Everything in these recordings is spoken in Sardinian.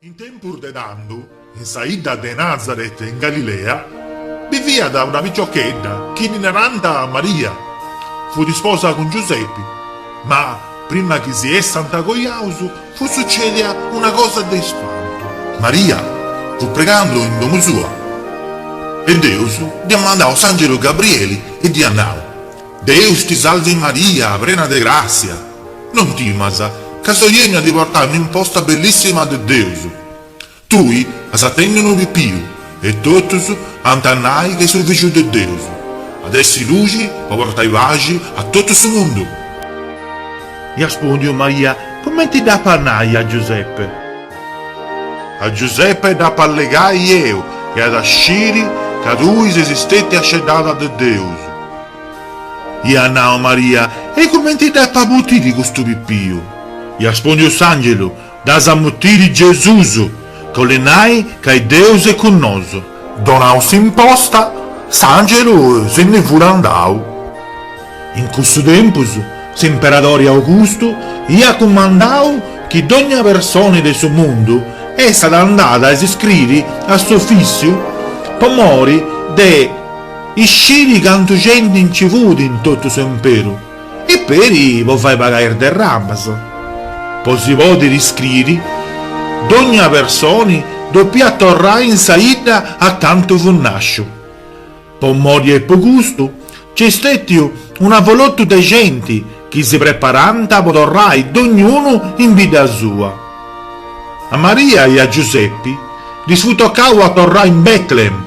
In tempus de tando, in sa 'idda de Nazaret in Galilea, biviat una piciochedda chi ddi narànt Maria. Fut isposa cun Giusepi. Ma, prima chi si essant cojaus, fut sucèdia una cosa de ispantu. Maria fut pregando in domu sua e Deus dd'iat mandau s'àngelu Gabrieli e dd'iat nau, Deus ti salvi Maria, prena de gràssia, non timas, ca soi 'ènniu a ti portai un'imposta bellissima de Deus. Tui as a tenni unu pipiu e totus ant a nai ca est su Fìgiu de Deus, at essi luxi po portai paxi a totu su mundu. Iat spòndiu Maria, Cumenti dd'apu a nai a Giuseppe? A Giuseppe dd'apu a allegai eu e at a sciri ca tui ses stetia sceddada de Deus. Iat nau Maria, E cumenti dd'apu a mutiri custu pipiu? Iat spondiu s'angelu, Dd'as a mutiri Gesus, ca 'olit nai ca Deus est cun nosu. Donau s'imposta, s'angelu si ndi fut andau. In cussu tempus s'imperadori Augustu iat cumandau chi dogna personi de su mundu essat andada a s'iscriri a s'ufissiu po mori de. Isciri cantu genti nci fut in totu s'imperu e peri po fai pagai is derramas. Po si podiri iscriri, dogna personi dopiat torrai in sa 'idda acantu fut nasciu. Po mori e po custu nc'est stetiu un avolotu de genti chi si preparànt po torrai dognunu in bidda sua. A Maria e a Giusepi ddis fut tocau a torrai in Bètlehem.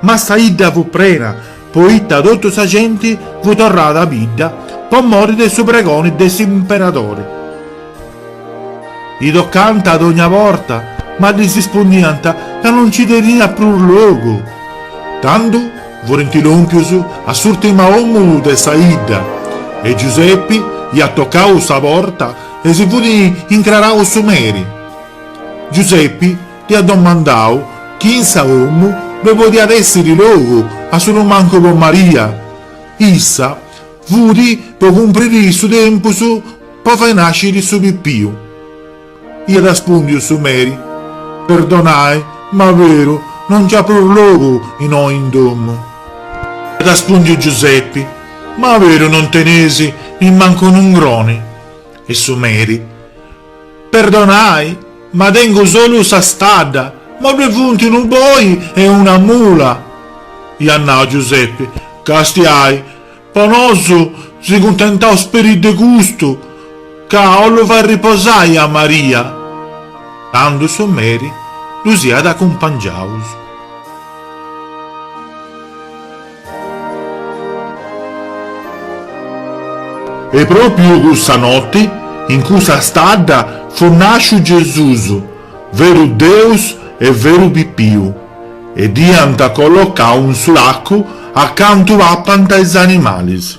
Ma sa 'idda fut prena, poita totu sa genti fut torrada a bidda po mori de su pregoni de s'imperadori. E tocànt a dogna porta, ma ddis ispundiant ca no nci teniat prus logu. Tando furint lòmpius a s'ùrtima 'omu de sa 'idda e Giusepi iat tocau sa porta e si fut incrarau su meri. Giusepi Iat domandau chi in sa 'omu ddu podiat èssiri logu a solu mancu po Maria. Issa fudi po cumpriri su tempus po fai nàsciri su pipiu. Iat raspùndiu su Meri, Perdonai, ma beru, no nc'at prus logu innoi in domu. Iat raspùndiu Giusepi, Ma beru non tenesi nimmancu un'ungroni. E su Meri. Perdonai, ma tengu solu sa stadda, ma ddue funt unu boi e una mula. Iat nau Giuseppe, Castiai, po nosu si cuntentaus peri de custu, ca 'ollu fai riposai a Maria. Tandu su meri ddus iat acumpangiaus. E pròpiu cussa noti, in cussa stadda, fut nàsciu Gesùs, veru Deus e veru pipiu, e dd'iant collocau in su lacu acantu papant is animalis.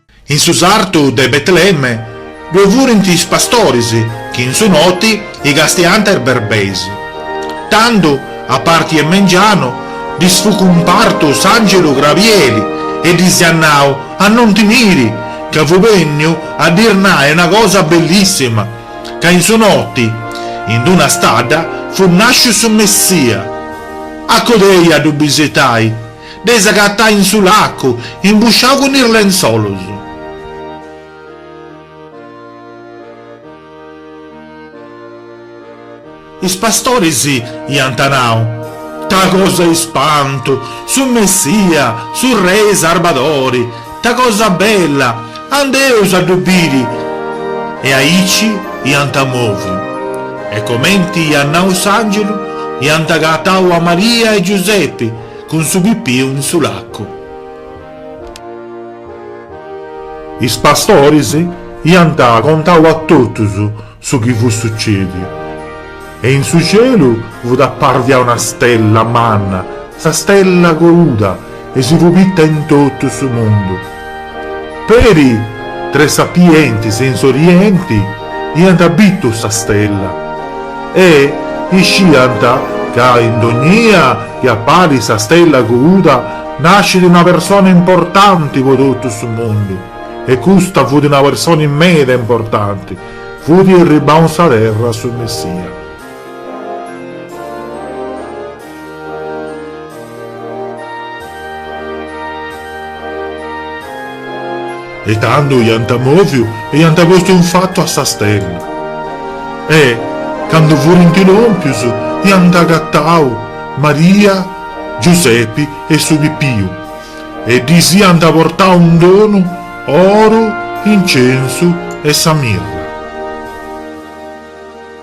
In su sartu de Betlemme ddoe furint is pastoris chi in su noti icastiant is berbeis. Tandu, a parti e mengianu, ddis fut cumpartu s'angelu Grabieli e ddis iat nau a non timiri, ca fut benniu a ddis nai una cosa bellissima, ca in su noti, in d'una stadda, fut nasciu su Messia. Acodei a ddu bisitai. Deis agatai in su lacu. Imbussiau cun is lentzolus. Is pastoris iant nau. Ta cosa ispantu! Su Messia! Su Rei Sarbadori! Ta cosa bella! Andeus a ddu biri! E aici iant moviu. E comenti iat nau s'angelu, iant agatau a Maria e Giusepi. Cun su pipiu in su lacu. Is pastoris iant contau a totus su chi fut sucediu, e in su cielu fut apparia una stella manna, sa stella couda, e si fut bitta in totu su mundu. Peri tres sapientis in s'orienti iant bitu sa stella e isciant ca indognia chi apparit sa stella couda nascit una persona importanti po totu su mundu e custa fut una persona immeda importanti, fut irribau in sa terra su Messia. E tandu iant mòviu e iant postu in fatu a sa stella. E, candu furint lòmpius, iant agatau Maria, Giusepi e su pipiu e ddis iant portau in donu oru, incensu e sa mirra.